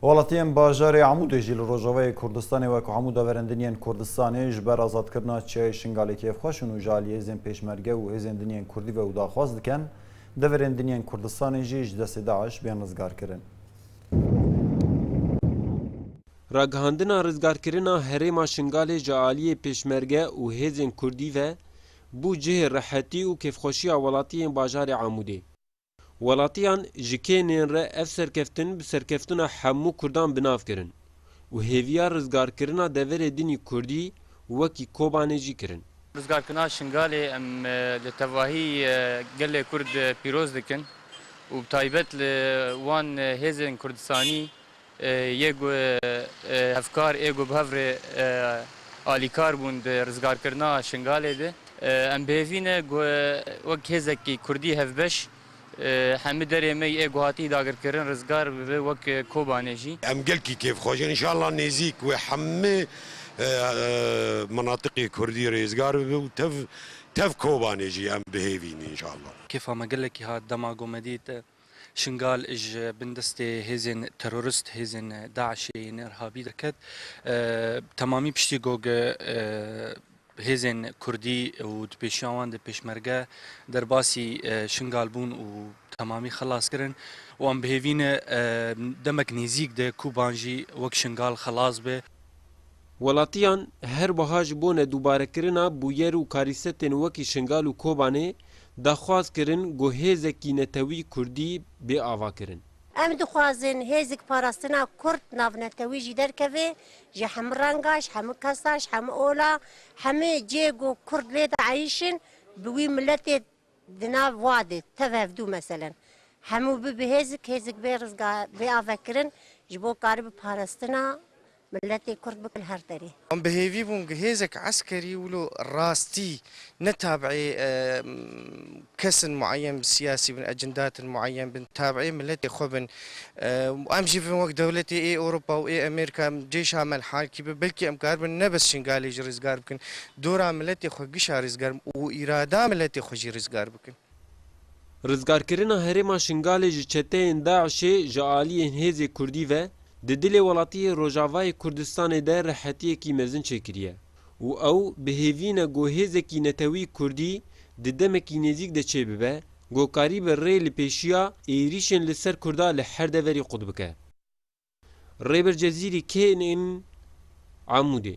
Welatiyên bajarê Amûdê jî li Rojavayê Kurdistanê wek Amûda Verendiniyên Kurdistanê ji ber azadkirina çiyayê Şingalê kêfxweş in û ji aliyê hêzên pêşmerge û hêzên diniyên Kurdî ve û daxwaz dikin deverên diniyên Kurdistanê jî ji destê DAIŞ bên rizgarkirin. Ragihandina rizgarkirina herêma Şingalê ji aliyê pêşmerge û hêzên Kurdî ve bû cihê rehetî û kêfxweşiya welatiyên bajarê Amûdê. Welatiyan ji kênên re ev serkeftin bi serkeftina hemû Kurdan bi nav kirin û hêviya rizgarkirina deverê dinî Kurdî wekî Kobanê jî kirin. Rizgarkirina Şingalê em li tevahî gelê Kurd pîroz dikin û bi taybet li wan hêzên Kurdistanî Yê ku hevkar ê ku bi hev re alîkar bûn di rizgarkirina Şingalê de, em bi hêvî ne ku wek hêzekî kurdî hevbeş hemû derê me yê ku hatiye dagirkirin rizgar bibe wek Kobanê jî. Em gelkî kêfxweş in înşallah nêzîk wê hemû minatiqê kurdî rêzgar bibe û tev tev Kobanê jî em bi hêvî ne înşallah. Kêfa me gelekî hat dema ku me dît. Şingal ji bin destê hêzên terorist, hêzên DAIŞ'ê yên Irhabî derket. Bi temamî piştî got hêzên Kurdî û di pêşiya wan de Pêşmerge derbasî Şingal bûn û bi temamî xelas kirin. Wan bihêvî ne demek nêzîk de Kûban jî wek Şingal xelas be. Welatiyan her wiha ji bo nedûbarekirina bûyer û karîsetên wekî Şingal û Kobanê daxwaz kirin ku hêzekî netewî kurdî bê avakirin. Em dixwazin hêzik parastina kurd navnetewî jî derkeve ji hemû renga, ji hemû kesa, ji hemû ola, hemû cê ku kurd lê de eyîşin bi wî miletê Di nav wadê tev hevdû meselen hemû bi bi hêzik hêzik bê rizga bê avekirin ji bo kari bi parastina miletê kurd bikin her derê. Em bi hêvî bûn gi hêzek eskerî wilo rastî ne tabî kesin mueyen bi siyasî bin ecindatin mueyen bin tabî miletê xwe bin û em jî bin wek dewletê ê Ewropa û ê Amerîka em cêşa melhalkî bi belkî em kar bin ne bes Şingalê jî rizgar bikin Dora miletê xwe gişa rizgar û îrada miletê xwe jî rizgar bikin. Rizgarkirina herêma Şingalê ji çeteyên DAIŞ'ê ji aliyên hêzê Kurdî ve di dilê welatiyê Rojavayê Kurdistanê de rehetiyekî mezin çêkiriye û ew bi hêvî ne ku hêzekî netewî Kurdî di demekî nêzîk de çêbibe ku karîbe rê li pêşiya êrîşên li ser Kurda li her deverî qut bike. Rêber Cezîrî kê in Amûdê?